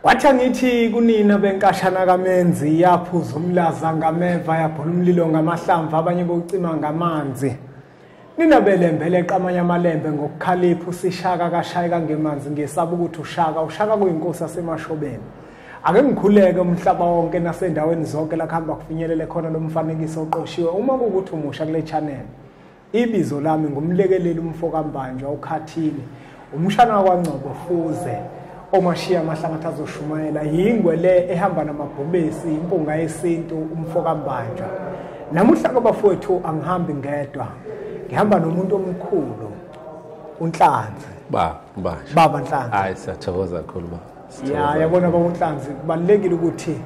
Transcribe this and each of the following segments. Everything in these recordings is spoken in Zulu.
Wathi angithi kunina benkashana kamenzi yaphuza umlaza ngameva yabhola umlilo ngamahlamvu abanye bocima ngamanzi. Nina belembele qamanye amalembe ngokukhalipha usishaka kashayeka ngemanzi ngesaba ukuthi ushaka ushaka kuyinkosi yasemashobeni. Ake ngikhuleke umhlaba wonke nasendaweni zonke la kuhamba kufinyelele khona lo mfanekiso oqoshiwe uma kuwukuthi umusha kule channel. Ibizo lami ngumlekeleli umfokambanjwa ukhathini umshana wakwaNgcobo Fuze omashiya amahlabathi azoshumayela yingwe le ehamba namabhubesi impunga yesintu umfokambanjwa namuhla kwabafowethu angihambi ngedwa ngihamba nomuntu omkhulu unhlanzi baba baba baba nhlanzi hayi siyathokoza kakhulu baba ya yabona baba unhlanzi kubalekile ukuthi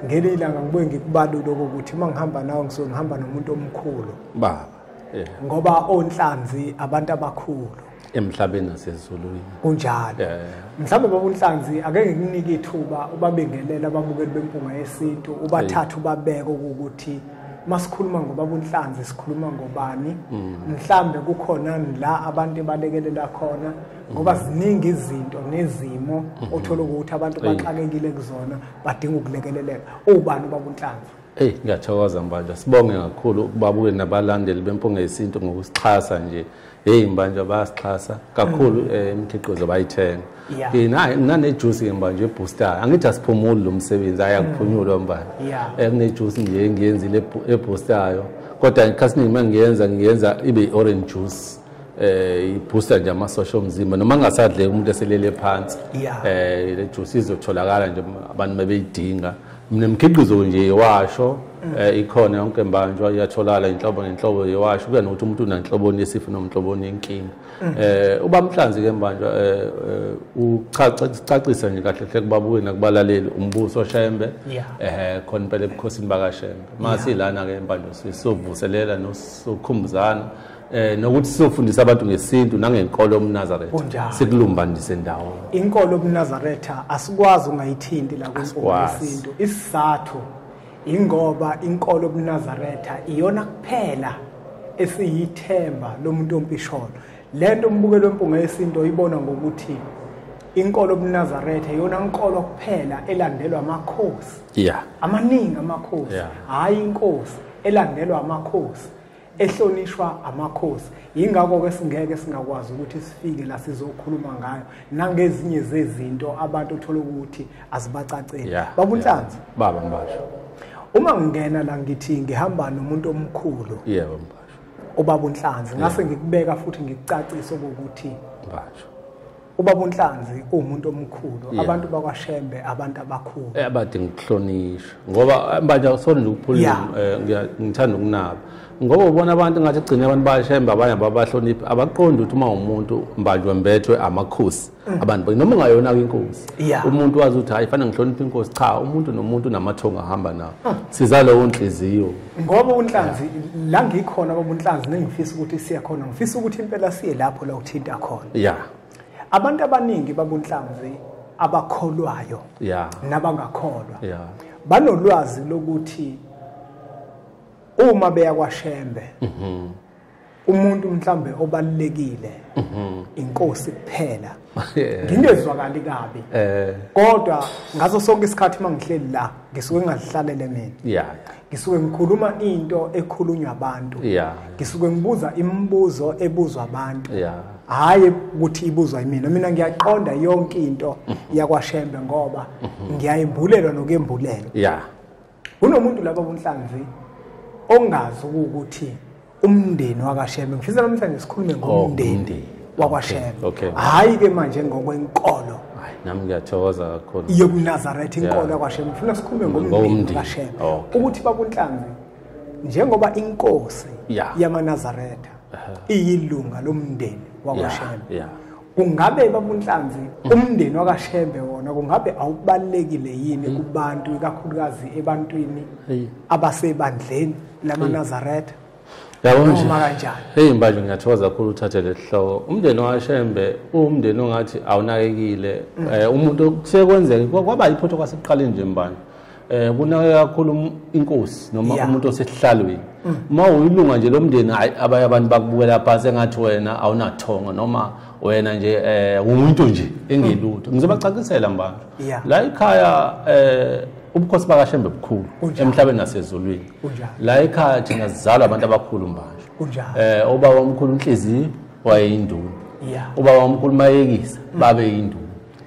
ngelilanga ngibuye ngikubalule ukuthi uma ngihamba nawe ngisuke ngihamba nomuntu omkhulu baba yeah. ngoba onhlanzi abantu abakhulu emhlabeni nasezulwini kunjalo yeah. mhlawumbe baba unhlanzi akeke kunike ithuba ubabengelela ababukeli bempunga yesintu ubathathu babeke ukuthi masikhuluma ngobaba unhlanzi sikhuluma ngobani mm. mhlambe kukhona la abantu ebalekelela khona ngoba mm. ziningi izinto nezimo mm-hmm. othola ukuthi abantu baxakekile kuzona badinga ukulekeleleka ubani ubaba unhlanzi Eyi ngiyathokoza Mbanjwa sibonge kakhulu ukubabuke nabalandeli bempunga yesintu ngokusixhasa nje heyi Mbanjwa bayasixhasa kakhulu mm. eh, imikhiqizo bayithenga nanejuice ke Mbanjwa ebooster angithi asiphumuli lo msebenzi ayakuphunyulwa mm. Mbanjwa eh, kunejuice nje engiyenzile eboostayo kodwa ikhasiningi uma ngiyenza ngiyenza ibe i-orange juice eh ibooster nje amasosha omzimba noma ngasadleka umuntu eselele phansi eh le juice izotholakala nje abantu mebeyidinga Mina mkhiqizo nje yewasho mm. eh, ikhona yonke mbanjwa iyatholakala inhlobo nenhlobo yewasho kuya nokuthi umuntu unanhloboni yesifo nomhloboni yenkinga mm. eh uba mhlanzi ke mbanjwa eh, eh uchacisa nje kahle hle kubabuye nakubalaleli umbuso shembe eh khona impela ebukhosini bakashembe masi lana ke mbanjwa sisovuselela nosukhumbuzana eh nokuthi sizofundisa abantu ngesintu nangenkolo yobunazaretha Kunjalo. sikulumbanise ndawo inkolo yobunazaretha asikwazi ungayithinti la kwenkolo Asikwazi. yesintu isizathu ingoba inkolo yobunazaretha iyona kuphela esiyithemba lomuntu ompisholo lento umbukelo wempunga yesintu oyibona ngokuthi inkolo yobunazaretha iyona nkolo kuphela elandelwa amakhosi yeah amaningi amakhosi Yeah. hhayi inkosi elandelwa amakhosi ehlonishwa amakhosi yingakho ke singeke singakwazi ukuthi sifike la sizokhuluma ngayo nangezinye zezinto abantu othola ukuthi azibacaceli yeah, babunhlanzi yeah. baba mbasho uma ngingena la ngithi ngihamba nomuntu omkhulu yeah baba mbasho ubaba unhlanzi ngase yeah. ngikubeka futhi ngikucacise ukuthi mbasho ubaba unhlanzi uwumuntu omkhulu yeah. abantu bakwashembe abantu abakhulu eh, abadinga ukuhlonishwa ngoba eh, manje akusona nje ukuphulula yeah. Eh, ngithanda ukunaba ngoba ubona abantu ngathi kugcine abantu bashembe abanye ababahloniphi abaqondi ukuthi uma umuntu mbanjwa mbethwe amakhosi mm. abantu noma ungayona kwinkosi yeah. umuntu wazi ukuthi hayi fanele ngihloniphe inkosi cha umuntu nomuntu namathongo ahamba nawo mm. siza lowo nhliziyo ngoba unhlanzi la ngikhona ngoba unhlanzi nengifisa ukuthi siye khona ngifisa ukuthi impela siye lapho la uthinta khona ya abantu abaningi babunhlanzi abakholwayo ya nabangakholwa ya banolwazi lokuthi uma beya kwaShembe mhm umuntu mhlambe obalekile mhm. inkosi kuphela ngingezwakali kabi eh. kodwa ngaso sonke isikhathi uma ngihleli la ngisuke ngazihlalele mina ngisuke ngikhuluma into ekhulunywa abantu ngisuke ngibuza imibuzo ebuzwa abantu hhayi ukuthi ibuzwa imina mina ngiyaqonda yonke into mhm. yakwashembe ngoba mhm. ngiyayembulelwa nokuyembulelwa kunomuntu laba bunhlanzi ongazi ukuthi umndeni wakashembe ngifisa namhlanje sikhulume oh, ngomndeni wakwashembe hhayi ke manje ngokwenkolo nami ngiyathokoza kakhulu yobunazaretha inkolo yakwashembe ngifuna sikhulume ngomndeni wakashembe ukuthi babunhlanzi njengoba inkosi yamanazaretha iyilunga lomndeni wakwashembe kungabe babunhlanzi mm. umndeni wakashembe wona kungabe awubalekile yini mm. kubantu ikakhulukazi ebantwini abasebandleni lamanazaretha yabo nje hey mbaji ngiyathokoza kakhulu uthathe lesihloko umndeni wakashembe umndeni ongathi awunakekile mm. eh, umuntu kusekwenzeka kwaba yiphotho kwasekuqaleni nje mbani eh kunake kakhulu um- inkosi noma Yeah. umuntu osesihlalweni uma uyilunga nje lomndeni hayi abanye abantu bakubukela phansi engathi wena awunathongo noma wena nje eh umuntu nje engelutho ngizobacacisela mbantu Yeah. la ikhaya eh ubukhosi bakashembe bukhulu Kunjalo. emhlabeni nasezulwini Kunjalo. la ikhaya thina sizalwa abantu abakhulu mbantu Kunjalo. eh ubaba omkhulu unhliziyo wayeyinduna Yeah. ubaba omkhulu mayekisa babe yinduna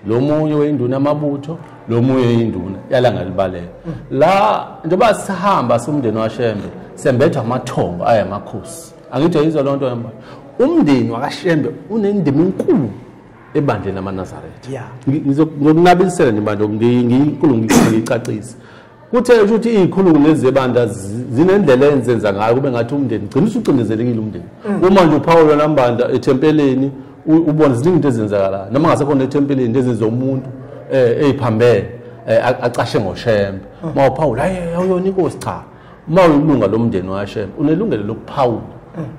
lo munye weyinduna amabutho lo munye yinduna yalangalibaleka la njengoba sihamba siwumndeni washembe sembethwa amathongo aye amakhosi angithi yizwa loo nto yamba umndeni wakashembe unendima enkulu ebandleni amanazaretha ngizokunabisela nje manje ngiyinkulu ngiyicacise kuthe ukuthi izikhulungu lezi zebandla zinendlela enzenza ngayo kube ngathi umndeni gcina usucindezelekile umndeni mm. uma nje uphawula nambanda ethempeleni ubona ziningi into ezenzakalayo noma ngasekhona ethempeleni into ezenza umuntu um eyiphambene um acashe ngoshembe uma mm. uphawula hayi awuyona inkosi cha uma uyilunga lomndeni washembe unelungelo lokuphawula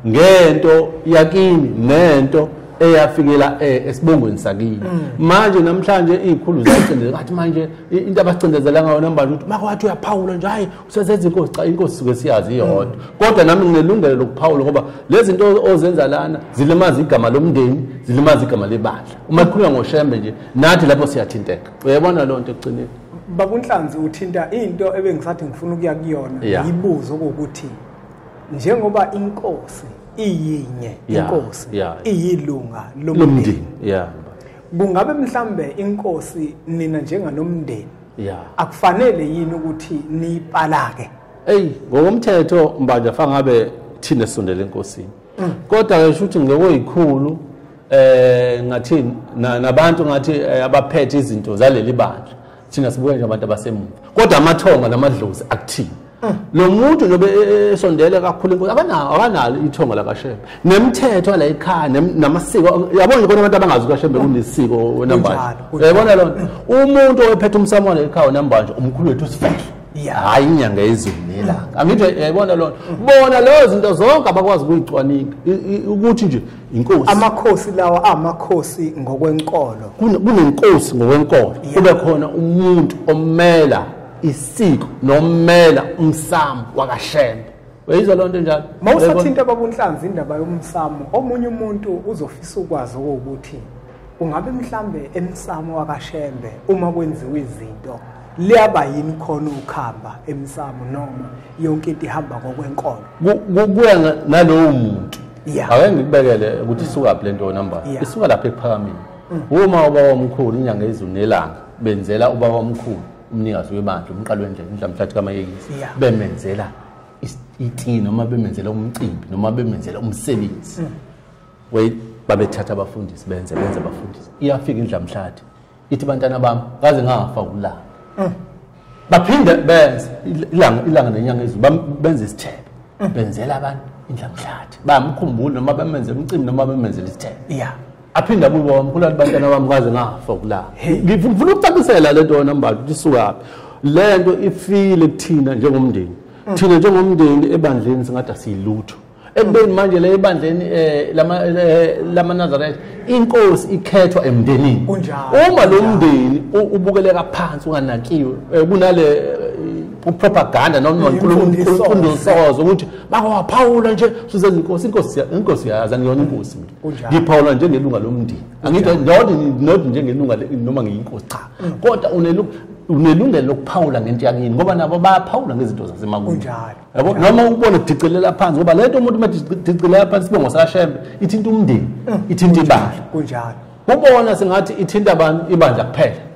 ngento yakini nento eyafikela eh, esibongweni sakini mm. manje namhlanje izikhulu zicindezela ngathi manje into abacindezela ngayo nambani ukuthi makwathi uyaphawula nje hayi usezenza inkosi cha inkosi suke siyazi iyodwa mm. kodwa nami nginelungelo lokuphawula ngoba lezi zinto ozenza lana zilimaza igama lomndeni zilimaza igama lebandla uma ikhuluma ngoshembe nje nathi lapho siyathinteka uyabona loo nto ekugcineni bakunhlanzi uthinta into ebengisathi ngifuna ukuya kuyona yibuzo kokuthi njengoba inkosi iyinye inkosi iyilunga lomndeni yeah kungabe mhlambe inkosi nina njenganomndeni yeah akufanele yini ukuthi nipalake hey ngokomthetho mbanja fangabe thina sondele enkosini mm. kodwa ke shuthi ngokuyikhulu eh ngathini nabantu ngathi eh, abaphethe izinto zaleli bandla thina sibuke nje abantu abasemuva kodwa amathonga namadlozi akuthini mm. lo muntu nobe e, e, esondele kakhulu inkosi abanawo akanalo ithongo lakashembe nemithetho la ekhaya namasiko yabona nje kona abantu abangazi ukashembe kunesiko wenambanje yayibona lona umuntu owephethe umsamona ekhaya wenambanje umkhulu wethu sifethu hayi inyanga yezulu nelanga angithi yayibona lona bona leyo zinto zonke abakwazi ukuyicwaninga ukuthi nje inkosi amakhosi lawa amakhosi ngokwenkolo kunenkosi ngokwenkolo kube khona umuntu omela isiko nomela umsamo wakashembe uyizwa loo nto njalo ma usathinta ababunhlanzi indaba yomsamo omunye umuntu uzofisa ukwazi okuwukuthi ungabe mhlambe emsamo wakashembe uma kwenziwa izinto liyaba yini khona ukhamba emsamo noma yonke into ihamba ngokwenkolo kuya nalowo muntu yeah. ake ngikubekele ukuthi isukaphi le nto yona mba yeah. isuka lapha ekuphakameni mm. uma ubaba omkhulu inyanga izulu nelanga benzela ubaba omkhulu umnikazi webandla umqalo wendlela umdlamhlathi kamayekisi yeah. bemenzela iti noma bemenzela umcimbi noma bemenzela umsebenzi mm. wait babethatha abafundisi benze benze abafundisi iyafika indlamhlathi ithi bantana bami kaze ngafa ulanga mm. baphinde benze ilanga ilanga nenyanga ezulu benze isithebe mm. benzela abantu indlamhlathi bamkhumbula noma bamenze umcimbi noma bamenzela isithebe ya aphinde abuye bamkhulu abantu bantana bami kaze ngafa kulanga ngifuna ukucacisela le nto yona mbali ukuthi isukaphi le nto ifile kuthina njengomndeni mm. thina njengomndeni ebandleni singathi asiyilutho ekubeni manje le ebandleni um eh, eh, lamanazaretha inkosi ikhethwa emndenini uma lo mndeni ubukeleka phansi unganakiwe um kunale upropaganda noma imfundisozo ukuthi bakowaphawula nje suzenza inkosi inkosi inkosi yazi angiyona inkosi mina ngiphawula njengelunga lomndeni angithi not not njengelunga noma ngiyinkosi cha mm. kodwa unelunga unelungelo lokuphawula ngento yakini ngoba nabo bayaphawula ngezinto zasemakuni kunjalo yabo noma ukubona kudicelela phansi ngoba lento umuntu uma dicelela phansi sibe ngosashembe ithinta umndeni mm. ithinta ibandla kunjalo kubona singathi ithinta abantu ibandla kuphela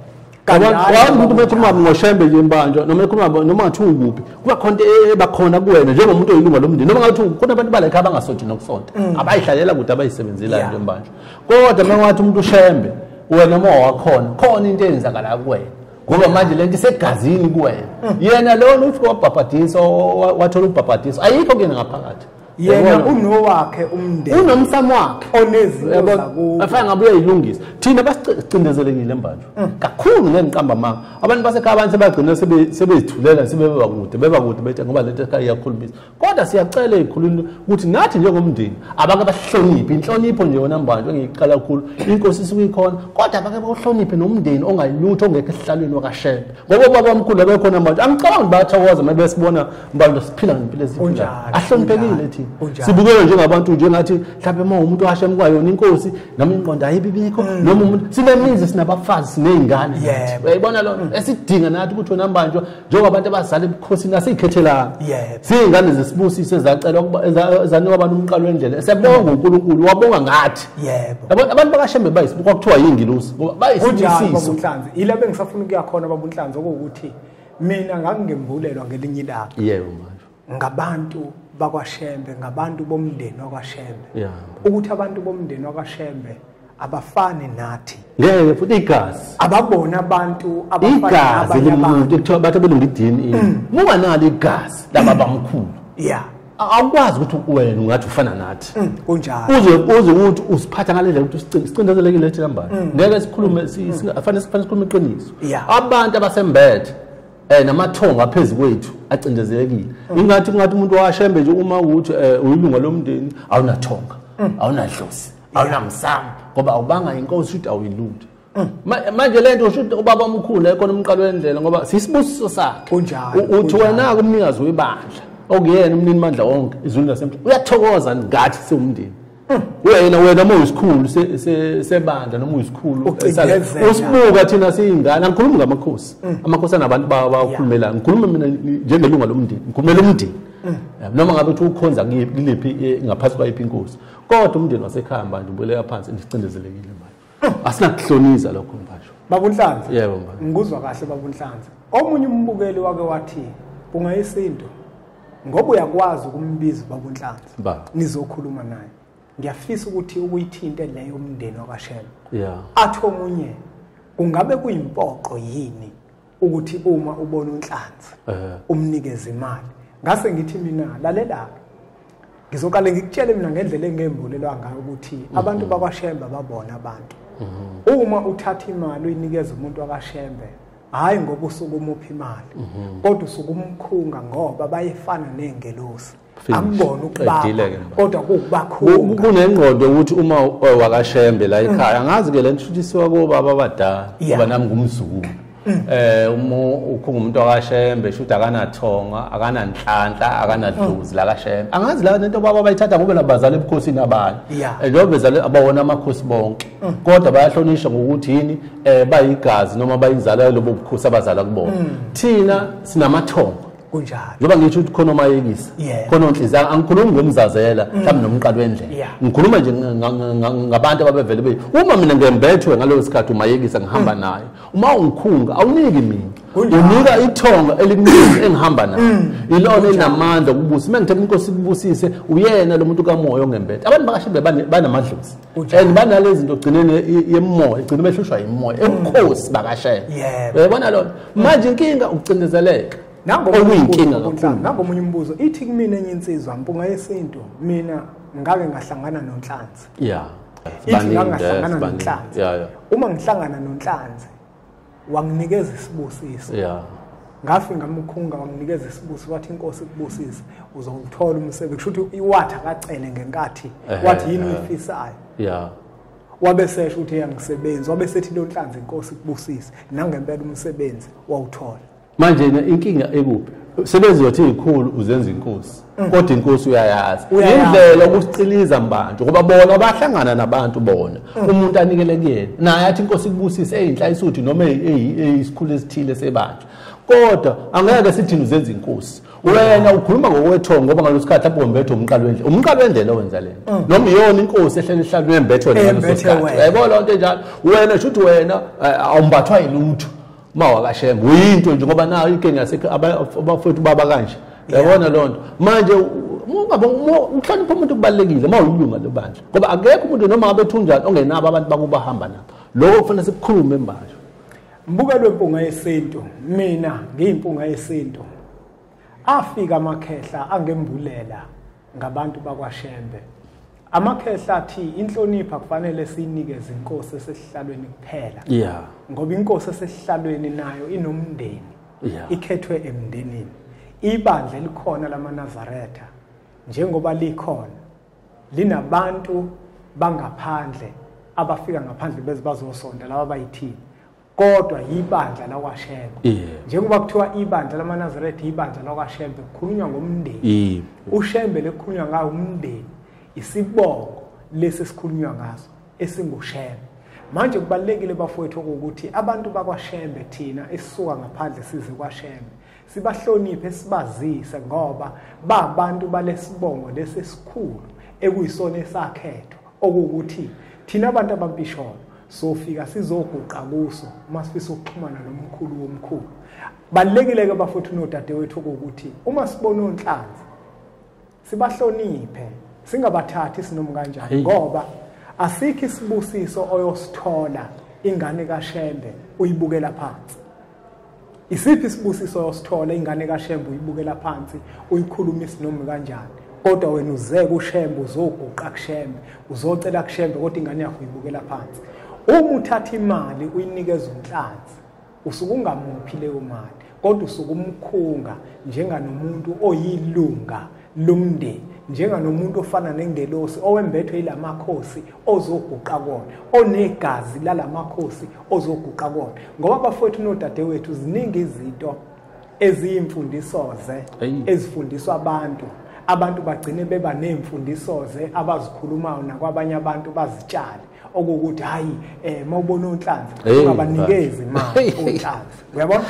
kanjalo umuntu bekhuluma ngoshembe nje mbanjwa noma ekhuluma noma ngathi ukuphi kuba khona e- ebakhona kuwena njengomuntu oyilunga lomndeni noma ngathi khona abantu balekhe abangasonti nokusonta mm. abayihlalela kude abayisebenzela into embanjwa kodwa uma ngathi umuntu ushembe wena uma wakhona khona into eyenzakala kuwena ngoba manje lento isegazini kuwena mm. yena lona uthi wabhabhadisa wathola ubhabhadiso ayikho kuyena ngaphakathi yena unowakhe umndeni unomsamo wakhe onezintoafana ngabe uyayilungisa thina basicindezelekile mbanjwa mm. kakhulu ngengiqamba manga abantu basekhaya abantu sebagcina sebezithulela sebebakude bebakude bethe ngoba lento ekhaya iyakhulumisa kodwa siyacela ezikhulwini ukuthi nathi njengomndeni abake bahloniphe inhlonipho nje yona mbanjwa engiyiqala kakhulu inkosi isuke ikhona kodwa abake bawuhloniphe nomndeni ongayilutho ongekho esihlalweni wakashembe ngoba ubaba omkhulu abekhona manje angicabangi bayathokoza uma besibona mbanjwa siphila ngempilo eziphila ahloniphekile thina sibukele njengabantu njengathi mhlawumbe uma umuntu washembe kwayona inkosi noma inqondo ayibibikho mm. noma umuntu sinemizi sinabafazi siney'ngane uyayibona lona esidinga nathi ukuthi wena mbanjwa njengobantu abazala ebukhosini asiyikhethelanga siyingane zesibusiso ezacelwa ezanikwa abantu umqalo wendlela esebonga uNkulunkulu wabonga ngathi abantu bakashembe bayisibuko kwakuthiwa yingilosi ngoba bayisibusiso yila bengisafuna ukuya khona babunhlanzi okuwukuthi mina ngangingembulelwa ngelinye ilanga yebo manje ngabantu bakwaShembe ngabantu bomndeni wakwaShembe yeah. ukuthi abantu bomndeni wakwaShembe abafani nathi ngeke futhi igazi ababona abantu abafana igazi lomuntu kuthiwa bathi belunga i-DNA mm. muba nalo igazi laba bamkhulu yeah awukwazi ukuthi wena ungathi ufana nathi mm, kunjalo uze uze ukuthi usiphatha ngalendlela ukuthi sicindezelekile lethi lambani mm. ngeke sikhulume sifanele sikhulume iqiniso abantu abasembethe eh namathongo aphezulu kwethu acindezelekile mm. ingathi kungathi umuntu washembe nje uma ukuthi eh, uyilunga lomndeni awunathonga mm. awunadlozi awunamsamo ngoba awubanga inkosi ukuthi awuyilungi mm. manje lento usho ukuthi ubaba omkhulu ekona umqalo wendlela ngoba sisibusiso sakhe kunjalo uthi wena kumnikazi webandla okuyena umnini mandla wonke izulu lasemhlabeni uyathokoza ngathi siwumndeni wena wena uma uyisikhulu sebandla noma uyisikhulu usibuka thina siyingane angikhulumi ngamakhosi mm. amakhosi anabantu bawo bawakhulumelayo ngikhuluma mina njengelunga lomndeni ngikhulumela umndeni mm. noma ngabe uthi ukhonza kuliphi eh, ngaphansi kwayiphi inkosi kodwa umndeni wasekhaya manje ubuyele yaphansi ndicindezelekile manje asinakuhloniza lokho mfasho babunhlanzi yebo mfasho ngikuzwa kahle babunhlanzi omunye umbukeli wake wathi kungayisinto ngoba uyakwazi ukumbiza babunhlanzi nizokhuluma naye ngiyafisa ukuthi ukuyithinte leyo umndeni wakashela yeah. athi omunye kungabe kuyimpoqo yini ukuthi uma ubona unhlanzi eh. umnikeze imali ngase ngithi mina lalela ngizoqale ngikutshele mina ngendlela engembulelwa ngayo ukuthi mhm. abantu bakwashembe babona abantu mhm. uma uthatha imali uyinikeza umuntu wakashembe hayi ngoba usuke umuphi imali mhm. kodwa usuke umkhunga ngoba bayefana nengelosi akubona ukubaba kodwa kuwubakhulu kunengqondo ukuthi uma eh, wakashembe la ekhaya mm. angazi ke le ntshuthisiwa kobaba abadala ngoba nami ngumzukulu mm. eh uma ukhunga umuntu akashembe shuthi akanathonga akananhlanhla akanadluzi mm. la kashembe angazi la nento baba bayithatha ngoba labazali ebukhosini abanye eh, njengoba bezale abawona amakhosi bonke kodwa bayahlonishwa ngokuthi yini eh bayigazi noma bayinzalo yalobo bukhosi abazala kubona thina sinamathonga kunjalo njengoba ngisho ukuthi khona omayekisa khona onhliziyo angikhulumi ngomzazela mm. mhlawumbe nomqalo wendlela ngikhuluma nje ngabantu ababevele be uma mina ngembethwe ngaleyo sikhathi umayekisa ngihamba mm. naye uma ungikhunga awuniki mina unika ithonga eliningi engihamba nayo mm. ilona elinamandla okubusa uma ngithe inkosi kubusise uyena lo muntu kamoya ongembethe abantu bakashe bebanamandlozi and banale zinto gcineni yemoya igcina behlushwa yimoya ebukhosi bakashela uyabona lona manje inkinga ukucindezeleka okuyinkinga kakhulu nangomunye umbuzo ithi kumina enye insizwa mpunga yesintu mina ngake ngahlangana nonhlanzi ya ithi ngangahlangana nonhlanzi uma ngihlangana nonhlanzi wanginikeza isibusiso yeah ngafi ngamkhunga wanginikeza isibusi wathi inkosi kubusise uzowuthola umsebenzi kusho ukuthi iwathi akacele ngenkathi wathi yini uyifisayo yeah wabe sesho ukuthi eyangisebenzi wabe sethi lonhlanzi inkosi kubusise nangempela umsebenzi wawuthola manje inkinga ekuphi sebenzi yothi ikhulu uzenza inkosi mm. kodwa inkosi uyayazi indlela ukuciliza mbantu ngoba bona bahlangana nabantu bona mm. umuntu anikele kuyena naye athi inkosi ikubusise eyinhla isuthi noma eyisikhulu esithile sebantu kodwa angeke sithini uzenza inkosi wena ukhuluma ngokwethongo ngoba ngalo sikhathi lapho wembethe umqalo wendlela umqalo wendlela owenza lento mm. noma iyona inkosi ehlele ihlalu yembethe wena ngaleso sikhathi yayibona lento enjalo wena shuthi wena eh, awumbathwa yilutho uma wakashembe uyinto nje ngoba nayo inkinga yasekho abafowethu baba kanje yabona loo nto manje uhlonipha umuntu kubalulekile uma uyilunga lebandla ngoba akekho umuntu noma ngabe thunjani ongenabo abantu bakubahamba nabo lokho kufanele sikukhulume manje mbuka lwempunga yesintu mina ngiyimpunga yesintu afika amakhehla angembulela ngabantu bakwaShembe. Amakhehla athi inhlonipha kufanele siyinikeze inkosi esesihlalweni kuphela. Yeah. Ngoba inkosi esesihlalweni nayo inomndeni. Yeah. Ikhethwe emndenini. Ibandla elikhona lamaNazaretha njengoba likhona linabantu bangaphandle abafika ngaphandle bezibazosonda laba bayithini kodwa yibandla lakwashembe yeah. njengoba kuthiwa ibandla lamanazaretha yibandla lakwashembe kukhulunywa ngomndeni yeah. ushembe lekukhulunywa ngawo umndeni isibongo lesi esikhulunywa ngaso esingushembe manje kubalekile bafowethu ukuthi abantu bakwashembe thina esisuka ngaphandle size kwashembe sibahloniphe sibazise ngoba babantu balesibongo lesesikhulu ekuyisona esakhethwa okuwukuthi thina abantu abampisholo sofika sizoguqa kuso uma sifisa ukuxhumana nomkhulu womkhulu balekile-ke bafowethu nodadewethu okuwukuthi uma sibona onhlanzi sibahloniphe singabathathi sinomu kanjani ngoba asikho isibusiso oyosithola ingane kaShembe uyibukela phansi isiphi isibusiso oyosithola ingane kaShembe uyibukela phansi uyikhuluma isinomu kanjani kodwa wena uze kuShembe uzoguqa kuShembe uzocela kuShembe kodwa ingane yakho uyibukela phansi uma uthatha imali uyinikeza umhlanzi usuke ungamuphi leyo mali kodwa usuke umkhunga njenganomuntu oyilunga lomndeni njenganomuntu ofana nengelosi owembethwe ilamakhosi ozoguqa kona onegazi lalamakhosi ozoguqa kona ngoba bafowethu nodadewethu ziningi izinto eziyimfundisoze ezifundiswa abantu abantu bagcine beba neemfundisoze abazikhulumayo nakwabanye abantu bazitshale okokuthi hayi eh mawubona onhlanzi ungabanikezi imali onhlanzi uyabona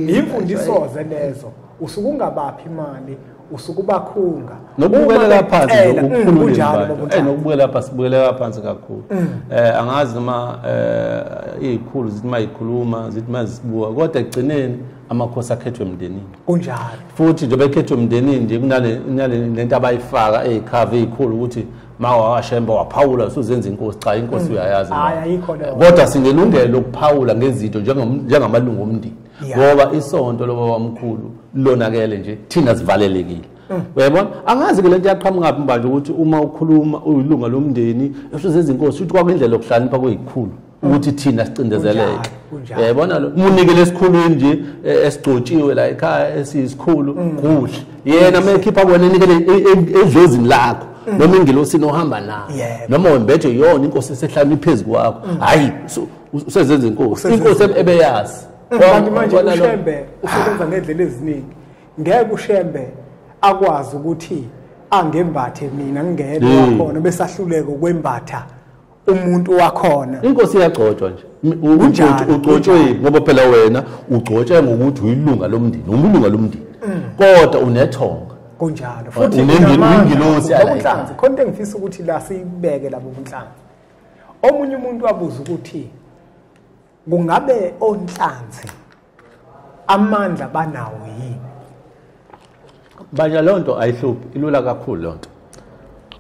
imfundisoze lezo usuke ungabaphi imali usuke ubakhunga nokubukeleka phansi nokukhululeka mm, eh nokubukela phansi sibukeleka phansi kakhulu mm. eh angazi noma eh izikhulu zithi mayikhuluma zithi mazibuka kodwa egcineni amakhosi akhethwe emndenini kunjalo futhi njengoba ekhethwe emndenini nje kunale nale lento abayifaka ezikhava ezikhulu ukuthi ma wakashemba waphawula usuzenza inkosi cha inkosi mm. uyayazi kodwa sinelungelo lokuphawula ngezinto njengamalungu omndeni ngoba isonto loba wamkhulu lonakele nje thina sivalelekile mm. uyayibona angazi ke lento yaqhamuka phi manje ukuthi uma ukhuluma uyilunga lomndeni usuzenza inkosi uthi kwakwindlela yokuhlakanipha kuyikhulu ukuthi thina sicindezeleke yabona lo munike lesikhulu nje e, esigcotshiwe la ekhaya esisikhulu mm. kuhle yena mekhipha kwena enikele e, e, edlozini lakho mm. noma ingilosini ohamba nayo noma wembethe yona inkosi esehlala iphezu kwakho mm. hayi usezenza inkosi inkosi ebeyazi kanti manje ushembe usebenza ngedlela eziningi ngeke ushembe akwazi ukuthi angembathe mina ngingedwa khona besahluleka ukwembatha umuntu wakhona inkosi iyagcotshwa nje Unjani? ugcotshwe ngoba phela wena ugcotshwe ngokuthi uyilunga lomndeni umlunga lomndeni Mm. kodwa unethonga kunjalo futhi Unendini- unamandla. unengilosi yala Ubunhlanzi, khona into engifisa ukuthi la siyibeke labo bunhlanzi omunye umuntu wabuza ukuthi kungabe onhlanzi amandla banawo yini baja leyo nto ayihluphi ilula kakhulu leyo nto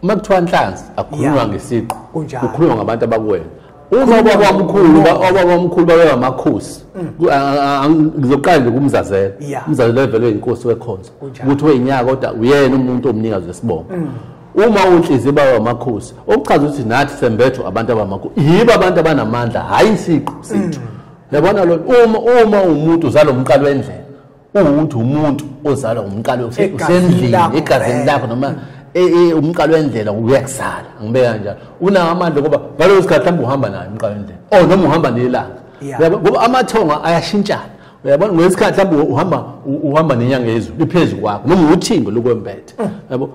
uma kuthiwa nhlanzi akukhulunywa ngesiqu kukhulunywa ngabantu abakuwena uma babamkhulu babamkhulu babe amakhosi mm. ngizoqala nje kumzazela umzazela evelwe inkosi wekhonzo ukuthi weyinyaka kodwa uyena umuntu omnikazi wesibongo mm. uma unhliziyo baba amakhosi okuchaza ukuthi nathi sembethwa abantu abamakhosi yibo abantu abanamandla hhayi isiqu sethu mm. yabona lo uma uma umuntu uzalwa umqalo wendlela uwukuthi umuntu ozalwa umqalo usendlini egazini lakho noma mm. e, e, umqalo wendlela uyakuzala ngibeka kanjalo unawo amandla okuba ngalowo sikhathi mhlawumbe uhamba nayo umqalo wendlela or oh, noma uhamba nelanga ngoba amathongo ayashintshana uyabona ngesikhathi lapho uhamba uhamba nenyanga yezulu liphezulu kwakho noma uthingo lokwembethe mm. yabo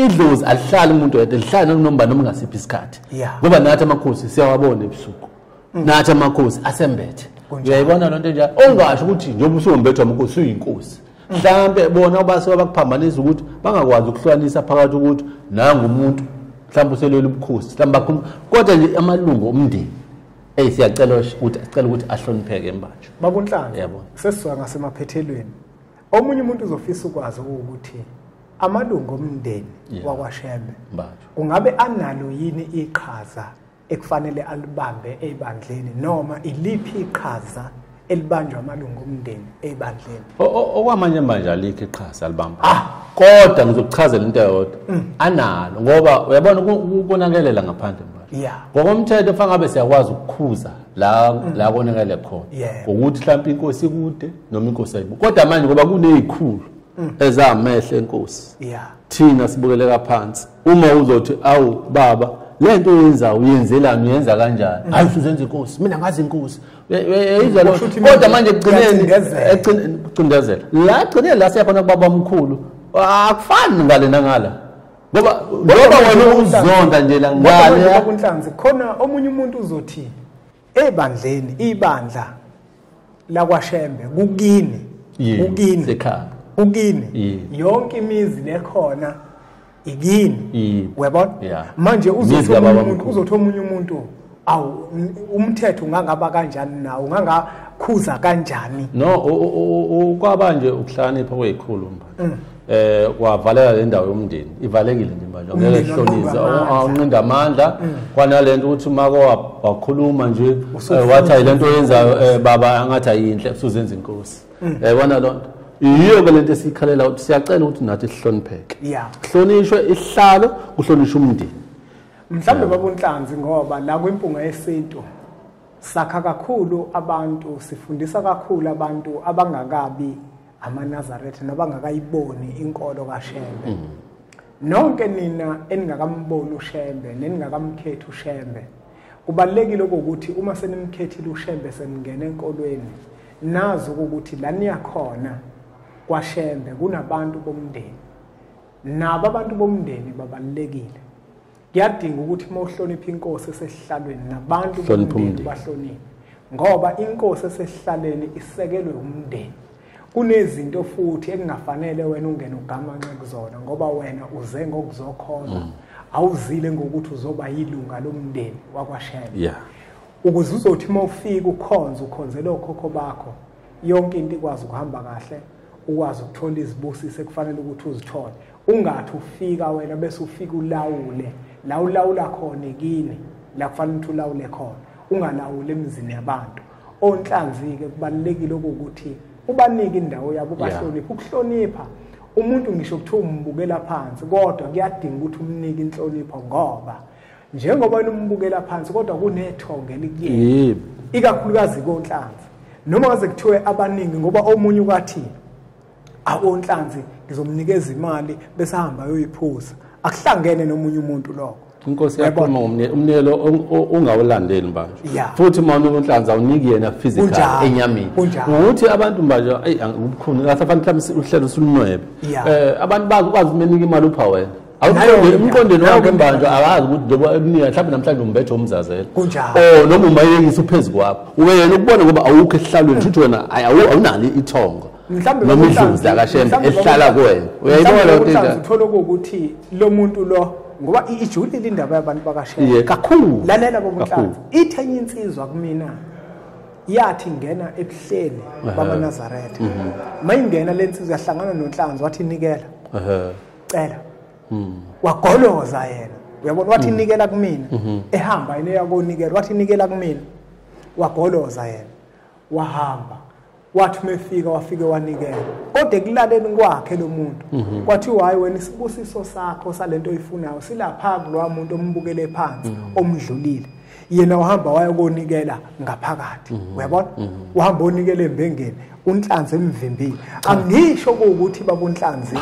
idlozi alihlali umuntu yedwa lihlali nomba noma ngasiphi isikhathi ngoba nathi amakhosi siyawabona ebusuku mm. nathi amakhosi asembethe uyayibona loo nto njalo ongasho ukuthi njengoba usuwombethwa amakhosi uyinkosi mm. mhlawumbe bona ubasuke bakuphambanisa ukuthi bangakwazi ukuhlukanisa phakathi ukuthi nangumuntu mhlawumbe uselwela ubukhosi mhlawumbe bakhuluma kodwa nje amalungu omndeni Hey siyacela ukuthi sicela ukuthi ahlonipheke mbanjwa. Babunhlanga. Yebo. Sesizwa ngasemaphethelweni. Omunye umuntu uzofisa ukwazi ukuthi amalungu omndeni yeah. wakwaShembe kungabe analo yini iqhaza ekufanele alibambe ebandleni noma iliphi iqhaza elibanjwa amalungu omndeni ebandleni okwamanje manje alikho iqhaza alibamba ah kodwa ngizokuchazela into eyodwa mm. analo ngoba uyabona ukubonakelela ngaphandle manje yeah ngokomthetho fanele ngabe siyakwazi ukukhuza la mm. la konakele khona ngokuthi mhlawumbe inkosi kude noma inkosi ayibu kodwa manje ngoba kunezikhulu mm. ezamehle inkosi yeah thina sibukeleka phansi uma uzothi awu baba lento yenza uyenzelani uyenza kanjani hayi usuzenza inkosi mina ngazi inkosi yayidla lo kodwa manje kugcineni kucindezela la kugcineni la siyakhona kubaba omkhulu akufani ngale nangala ngoba ngoba wena uzonda nje la ngale kunhlanzi khona omunye umuntu uzothi ebandleni ibandla lakwashembe kukini kukini ukini yonke imizi lekhona yini uyabona yeah. manje uzotha omunye umuntu awu umthetho ungangaba kanjani nawo ungangakhuza kanjani no kwaba nje ukuhlakanipha kweyikhulu mba mm. eh kwavaleka le ndawo yomndeni ivalekile nje manje ngeke kuhlonise awunqinda amandla mm. kwanalento ukuthi mako wakhuluma nje eh, wathi ayilento yenzayo eh, baba angathi ayinhle usuzenza inkosi mm. yayibona loo nto yiyo ke le nto esiyikhalela ukuthi siyacela ukuthi nathi sihlonipheke kuhlonishwe isihlalo kuhlonishwe umndeni mhlawumbe babunhlanzi ngoba la kwimpunga yesintu sakha kakhulu abantu sifundisa kakhulu abantu abangakabi amanazaretha nabangakayiboni inkolo kashembe mm. nonke nina eningakamboni ushembe neningakamkhethi ushembe Kubalulekile ukuthi uma senimkhethile uShembe semngena enkolweni nazi ukuthi la niyakhona kwaShembe kunabantu bomndeni. Nabo abantu bomndeni babalulekile. Kuyadinga ukuthi uma uhlonipha inkosi esehlalweni nabantu bomndeni bahloniphe ngoba inkosi esehlaleni isekelwe umndeni. kunezinto futhi ekungafanele wena ungene ugamanxe kuzona ngoba wena uze ngokuzokhona mm. awuzile ngokuthi uzoba yilunga lomndeni wakwashela yeah. ukuze uzothi uma ufika ukhonze ukhonzele okhokho bakho yonke into ikwazi ukuhamba kahle ukwazi ukuthola izibusiso ekufanele ukuthi uzithole ungathi ufika wena bese ufika ulawule la ulawula khona kini la kufanele ukuthi ulawule khona ungalawuli emizini yabantu onhlanzi-ke kubalulekile okokuthi ubanike indawo yabo ubahloniphe ukuhlonipha umuntu ngisho kuthiwa umbukela phansi kodwa kuyadinga ukuthi umnike inhlonipho ngoba njengoba wena umbukela phansi kodwa kunethongo elikuyena ikakhulukazi konhlanzi noma ngaze kuthiwe abaningi ngoba omunye ukwathini akonhlanzi ngizomnikeza imali bese ahamba ayoyiphuza akuhlangene nomunye umuntu lokho inkosi yakhuluma umnikelo ungawulandeli manje futhi uma unonhlanzi awuniki yena physical enyameni ukuthi abantu manje ayi ubukhuni kasafanele mhlawumbe uhlelo usulunwebe eh abantu bakwazi umenika imali upha wena awuqonde emqondweni wakho imbanje akazi ukuthi njengoba eminika mhlawumbe namhlanje umbethe umzazela o oh, noma umayekisa uphezu kwakho wena ukubona ngoba awukho esihlalweni shuthi wena awunalo ithongo mhlawumbe noma idlozi akashembe ehlala kuwena uyayibona loo nto uthola ukuthi lo muntu lo ngoba ijulile indaba yabantu bakashembe kakhulu lalela bobuhlanzi ithe enye insizwa kumina yathi ngena ebuhleni bamanazaretha mhm. mayingena le nsizwa yahlangana nonhlanzi wathi nikela cela hmm. wagoloza yena uyabona wathi hmm. nikela kumina mhm. ehamba yena eyakonikela wathi nikela kumina wagoloza yena wahamba wathi uma efika wafike wanikela kodwa ekulaleni kwakhe lo muntu mhm. kwathiwa hhayi wena isibusiso sakho sale nto oyifunayo silapha kulowa muntu ombukele phansi mhm. omdlulile yena uhamba wayokonikela ngaphakathi mhm. uyabona uhamba onikela embengeni unhlanzi emvimbile angisho ukuthi babunhlanzi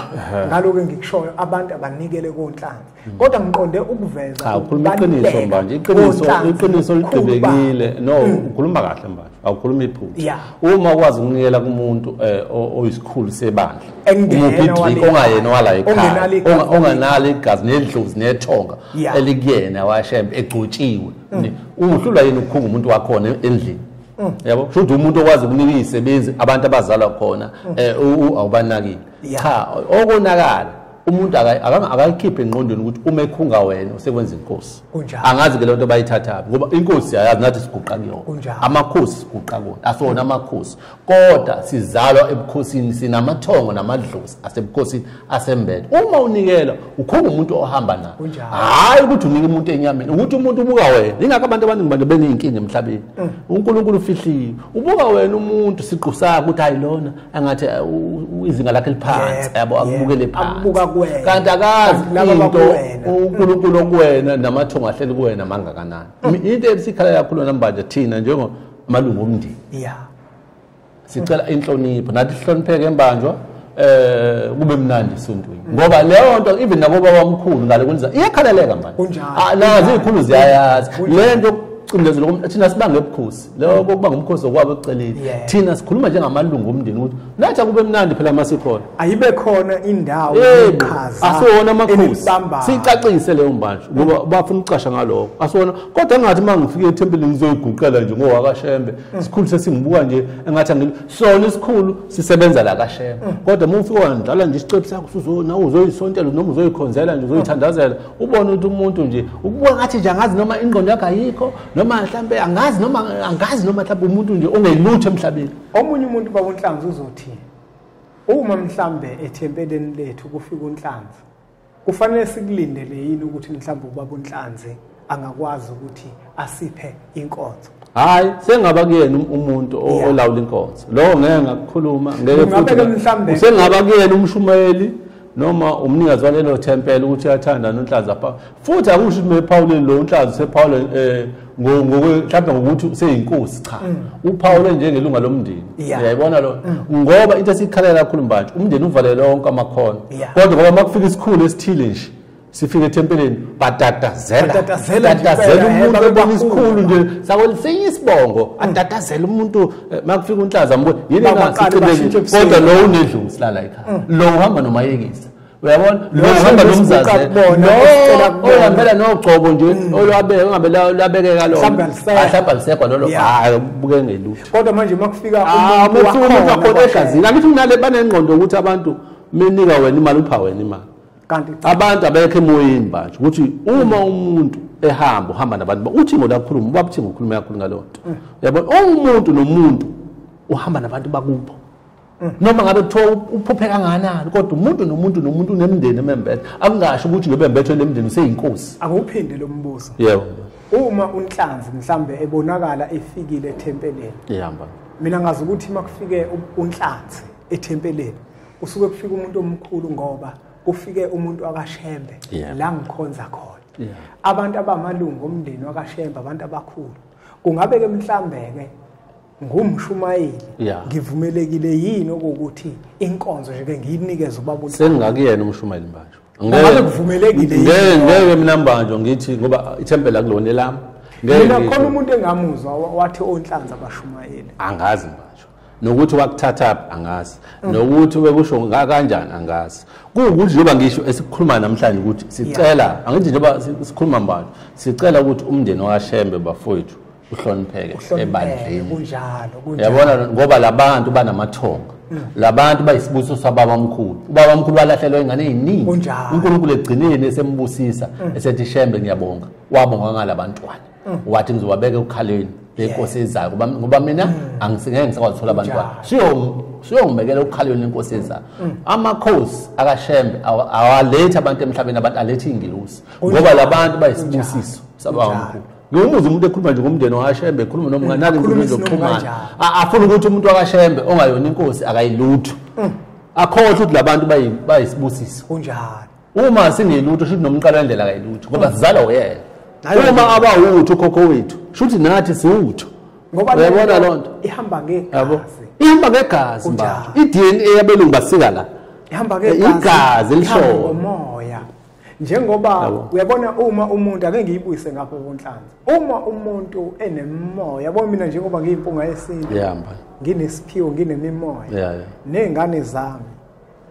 ngaloku engikushoyo abantu abanikele konhlanzi kodwa ngiqonde ukuveza cha ukhuluma iqiniso manje iqiniso iqiniso lidebekile no mm. ukhuluma kahle manje awukhuluma iphutha uma ukwazi ukunikela kumuntu eh, oyisikhulu sebandla umupidrik ongayena wala ekhaya onganalo igazi nedlozi nethonga elikuyena washembe egcotshiwe mm. uhlulwa yini ukukhunga umuntu wakhona endlini mm. yabo kusho ukuthi umuntu okwazi ukunika izisebenzi abantu abazalwa khona eh, awubanakile cha okonakala umuntu akayikhiphe engqondweni ukuthi uma ekhunga wena usekwenza inkosi angazi ke le nto bayithathaphi ngoba inkosi ayazi nathi siguqa kuyona amakhosi siguqa kona asona amakhosi kodwa sizalwa ebukhosini sinamathongo namadlozi asebukhosini asembele uma unikela ukhunga umuntu ohamba naye hhayi ukuthi unike umuntu enyameni ukuthi umuntu ubuka wena yingakho abantu abaningi bantu beney'nkinga emhlabeni mm. unkulunkulu ufihliwe ubuka wena umuntu siqu sakho ukuthi hayi lona angathi uh, izinga lakhe liphansi yabo akubukele phansi kanti akazi into uNkulunkulu okuwena namathongo ahleli kuwena mangakanani mm. into esikhala kakhulu namanje thina njengo amalungu omndeni yeah sicela inhlonipho nathi sihlonipheke embanjwa eh kube mnandi esontweni mm. ngoba leyo nto even nabo babamkhulu ngale kwenza iyakhaleleka manje ah, nazi ikhulu ziyayazi lento ucindezelo thina sibange ubukhosi leyo kokuba ngumkhosi okwabo ekuceleni thina sikhuluma njengamalungu omndeni ukuthi nathi akube mnandi phela uma sikhona ayibe khona indawo eqhaza asiwona amakhosi sicacise leyo mbanjwa ngoba bafuna ukucasha ngaloko asiwona kodwa engathi uma ngifike ethempelini ngizoyiguqela nje ngowakashembe mm. isikhulu sesingibuka nje engathi angili sona isikhulu sisebenza la kashembe mm. kodwa uma ufike wandlala nje isicebu sakho nawe uzoyisontela noma uzoyikhonzela nje uzoyithandazela ubone ukuthi umuntu nje ukubuka ngathi nje angazi noma ingqondo yakho ayikho noma mhlambe angazi noma angazi noma mhlambe umuntu nje ongelutho emhlabeni omunye umuntu baba unhlanzi uzothini uma mhlambe ethempeleni lethu kufika unhlanzi kufanele sikulindele yini ukuthi mhlambe ubaba unhlanzi angakwazi ukuthi asiphe inkonzo hayi sengaba kuyena um-, umuntu olawula inkonzo lowo ngeke ngakukhuluma ngeke futhi sengaba kuyena umshumayeli noma umnikazi walelo thempela ukuthi uyathanda nonhlaza pha futhi akusho ukuthi mephawuleni lo unhlaza usephawule um eh, mhlawumbe ngokuthi useyinkosi cha mm. uphawule njengelunga lomndeni uyayibona lo mm. ngoba into esiyikhalela kakhulu mbantshe umndeni uvalele onke amakhono kodwa ngoba uma kufika isikhulu esithile nje sifike ethempeleni batatazela batatazela umuntu ebona isikhulu nje sakolisinye isibongo mm. atatazela umuntu eh, makufika unhlaza mbuye yini ngasiqinile kodwa lo unedlungu silala ekhaya mm. lo uhamba nomayekisa uyabona lo uhamba nomzazela lo uhambela nogcobo nje mm. olwabe ungabe labekeka lo ahlamba lisekwa lolo hayi buke ngelutho kodwa manje makufika ah, umuntu wakhona ekhazini angithi unale banengqondo ukuthi abantu menika wena imali upha wena imali kanti abantu abekho emoyeni manje ukuthi uma umuntu ehamba uhamba nabantu uthi ngolakhuluma ubaba uthi ngokhuluma kakhulu ngaleyo nto mm. yabona umuntu nomuntu uhamba nabantu bakubo mm. noma ngabe kuthiwa uphuphe kanganani kodwa umuntu nomuntu nomuntu unemndeni emembethe akungasho ukuthi lo bembethwe lemndeni useyinkosi akuwuphinde lo mbuzo yebo uma unhlanzi mhlambe ebonakala efikile ethempeleni ihamba mina ngazi ukuthi makufike unhlanzi ethempeleni kusuke kufika umuntu omkhulu ngoba kufike umuntu wakashembe yeah. la ngikhonza khona yeah. abantu abamalungu omndeni wakashembe abantu abakhulu kungabe ke mhlambe-ke ngumshumayeli yeah. ngivumelekile yini okokuthi inkonzo nje-ke ngiyinikeze ubaba sengingakuyena umshumayeli mbanjwa ngabe kuvumelekile ngeke mina mbanjwa ngithi ngoba ithempeli akulona elami mina khona umuntu engamuzwa wathi onhlanzi abashumayeli angazi mbanjwa nokuthi wakuthathaphi angazi mm. nokuthi bekusho kanjani angazi kuwukuthi njengoba ngisho esikhuluma namhlanje ukuthi sicela angithi njengoba sikhuluma manje sicela ukuthi umndeni wakashembe bafowethu uhlonipheke ebandleni yabona ngoba labantu banamathonga mm. labantu bayisibusiso sababa mkhulu ubaba mkhulu walahlelwa ingane eziningi uNkulunkulu egcineni esembusisa mm. esethi shembe ngiyabonga wabonga ngalabantwana mm. wathi ngizowabeka ukhaleni lenkosi ezayo ngoba ngoba mina mm. angisingeke ngisakwazi abantwana siyo siyongibekela ukhaleni lenkosi ezayo mm. amakhosi akashembe awalethe abantu emhlabeni abantu alethe ingilosi ngoba labantu bayisibusiso sabawamkhulu ngiwumuza umuntu ekhuluma nje ngomndeni wakashembe ekhuluma nomngane nake inkulumo zokuxhumana afuna ukuthi umuntu wakashembe ongayona inkosi akayilutho akhohle ukuthi labantu bayisibusiso kunjalo uma singelutho shuthi nomqalo wendlela kayilutho ngoba sizalwa uyena uma abawutho ukhokho wethu shuthi nathi siwutho uyabona loo nto ihamba ngegazi ihamba ngegazi mba i-dna yabelungu basika la ihamba eh, ngegazi elishoyo moya njengoba uyabona uma umuntu ake ngiyibuyise ngapha konhlanzi uma umuntu enemoya yabo mina njengoba ngiyimpunga yesintu ngiyahamba nginesiphiwo nginemimoya nezingane zami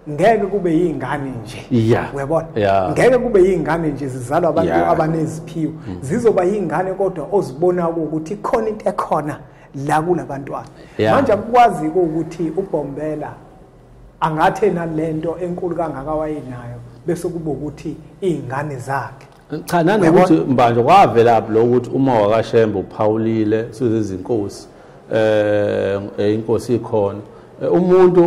ngeke kube yingane nje yeah. uyabona yeah. ngeke kube yingane nje zizalwa abantu yeah. abaneziphiwo mm. zizoba yingane kodwa ozibona ukuthi khona into ekhona la kulabantwana yeah. manje akukwazi ukuthi uBombela angathe nalento enkulu kangaka wayenayo bese kube ukuthi izingane zakhe cha nanokuthi mbanjwa kwavelaphi lo ukuthi uma wakashembe uphawulile sizezinkosi eh, eh inkosi ikhona eh, umuntu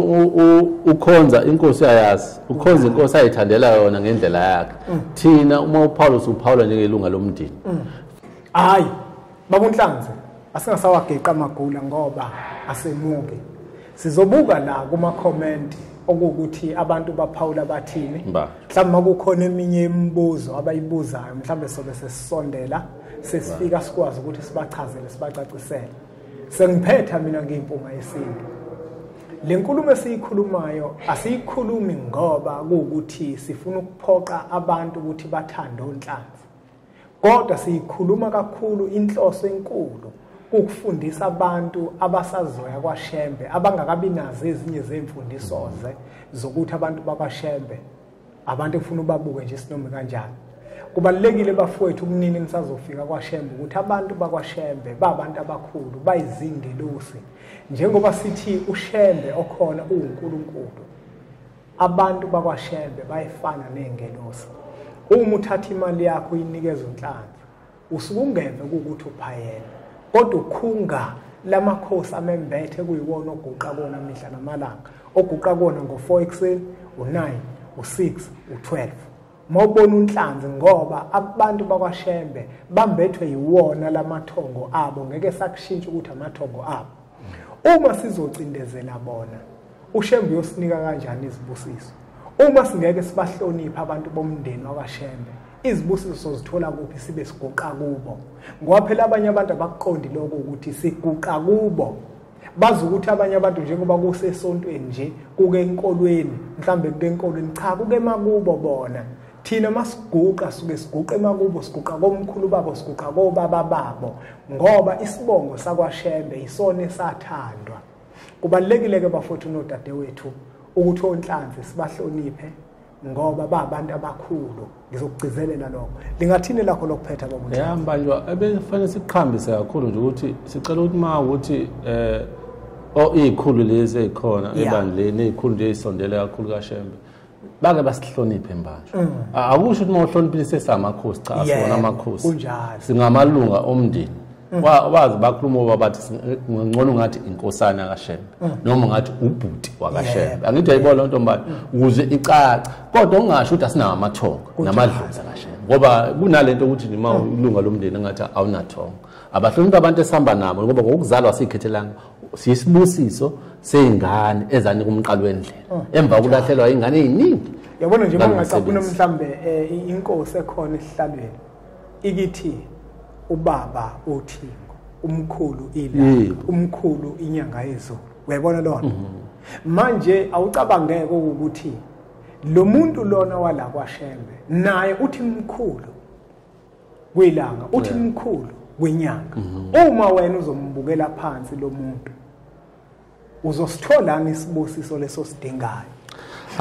ukhonza inkosi ayazi ukhonza inkosi ayithandela yona ngendlela yakhe mm. thina uma uPaulus uphawula njengelunga lomndeni mm. hayi BabuNhlanzi asingasawageqa amagula ngoba asemuke. Sizobuka la kuma comment okuwukuthi abantu baphawula bathini. Mhlawumbe makukhona eminye imibuzo abayibuzayo mhlawumbe sobe sesisondela sesifika sikwazi ukuthi sibachazele sibacacisele. Sengiphetha mina ngimpunga yesintu. Le nkulumo esiyikhulumayo asiyikhulumi ngoba kuwukuthi sifuna ukuphoqa abantu ukuthi bathande onhlanzi. Kodwa siyikhuluma kakhulu inhloso enkulu ukufundisa abantu abasazoya kwaShembe abangakabi nazo ezinye zemfundisoze zokuthi abantu bakwaShembe abantu efuna ubabuke nje sinomi kanjani kubalekile bafowethu umnini nisazofika kwaShembe ukuthi abantu bakwaShembe babantu abakhulu bayizingelosi njengoba sithi uShembe okhona uNkulunkulu Abantu bakwaShelbe bayefana nezingelosi. Uma uthatha imali yakho uyinikeza uNhlanhla, usuke ungeve ukuthi uphayela. Kodwa ukhunga lamakhosi amembethe kuyiwona oguqa kona mihla namalanga, oguqa kona ngo-4 ekuseni, u-9, u-6, u-12. Mawubona unhlanzi ngoba abantu bakwaShembe bambethwe yiwona lamathongo abo ngeke sakushintsha ukuthi amathongo abo. Uma sizocindezela bona uShembe uyosinika kanjani izibusiso? Uma singeke sibahloniphe abantu bomndeni wakwaShembe izibusiso sozithola kuphi sibe siguqa kubo ngoba phela abanye abantu abakuqondi lokho ukuthi siguqa kubo bazi ukuthi abanye abantu njengoba kusesontweni nje kuke enkolweni mhlambe kuke enkolweni cha kuke makubo bona thina masiguqa suke siguqa emakubo siguqa komkhulu babo siguqa kobaba babo ngoba isibongo sakwashembe isona esathandwa kubalekile ke bafowethu nodadewethu ukuthi onhlanzi sibahloniphe ngoba babantu abakhulu ngizokugcizelela lokho lingathini lakho lokuphetha bomuntu ya mbanjwa ebefanele siqhambise kakhulu nje ukuthi sicela ukuthi ma ukuthi eh o ikhulu lezi ezikhona ebandleni ikhulu nje isondele kakhulu kaShembe bake basihloniphe mbanjwa mm. akusho ukuthi uma uhloniphile sesamakhosi cha sona amakhosi kunjalo singamalunga omndeni wazi bakhuluma oba bathi ngcono ngathi inkosana kashembe mm. noma ngathi ubhuti wakashembe angithi ayibona loo ntombane mm. ukuze icaca kodwa ungasho ukuthi asinawo amathongo namadlozi akashembe ngoba kunale nto ukuthi nima mm. ilunga lomndeni engathi awunathongo abahloniphi abantu esihamba nabo ngoba ngokuzalwa siyikhethelanga siyisibusiso sey'ngane ezanika umqalo wendlela emva kokulahlelwa iy'ngane ey'ningi yabona nje uma ngingacaphuna mhlawumbe um eh, inkosi ekhona esihlalweni ikithi ubaba uthingo umkhulu ila umkhulu inyanga yezulu uyayibona lona mhm. manje awucabangeke ukuthi lo muntu lona wala kwaShembe naye uthi mkhulu kwilanga uthi mkhulu kwenyanga mhm. uma wena uzombukela phansi lo muntu uzositholani isibusiso leso sidingayo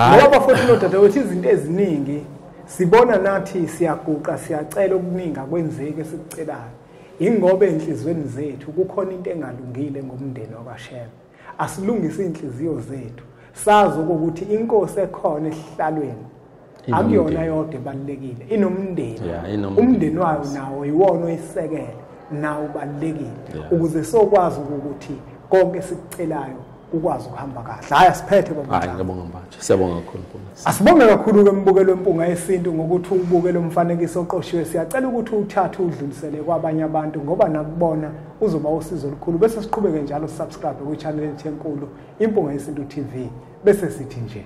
ngoba bafowethu nodadewethu izinto eziningi sibona nathi siyaguqa siyacela okuningi akwenzeki esikucelayo ingoba enhlizweni zethu kukhona into engalungile ngomndeni wakashema asilungise inhliziyo zethu sazi ukuthi inkosi ekhona esihlalweni akuyona yodwa ebalulekile inomndeni umndeni wayo nawo yiwona oyisekele nawo ubalulekile ukuze sokwazi ukuthi konke sikucelayo ukwazi ukuhamba kahle hayi asiphethe babangabonga manje siyabonga kakhulu asibonge kakhulu ke mbukelo wempunga yesintu ngokuthi ubuke lo mfanekiso oqoshiwe siyacela ukuthi uthathe udlulisele kwabanye abantu ngoba nakubona uzoba usizo olukhulu bese siqhubeke njalo subscribe kwi-channel enkulu impunga yesintu tv bese sithi nje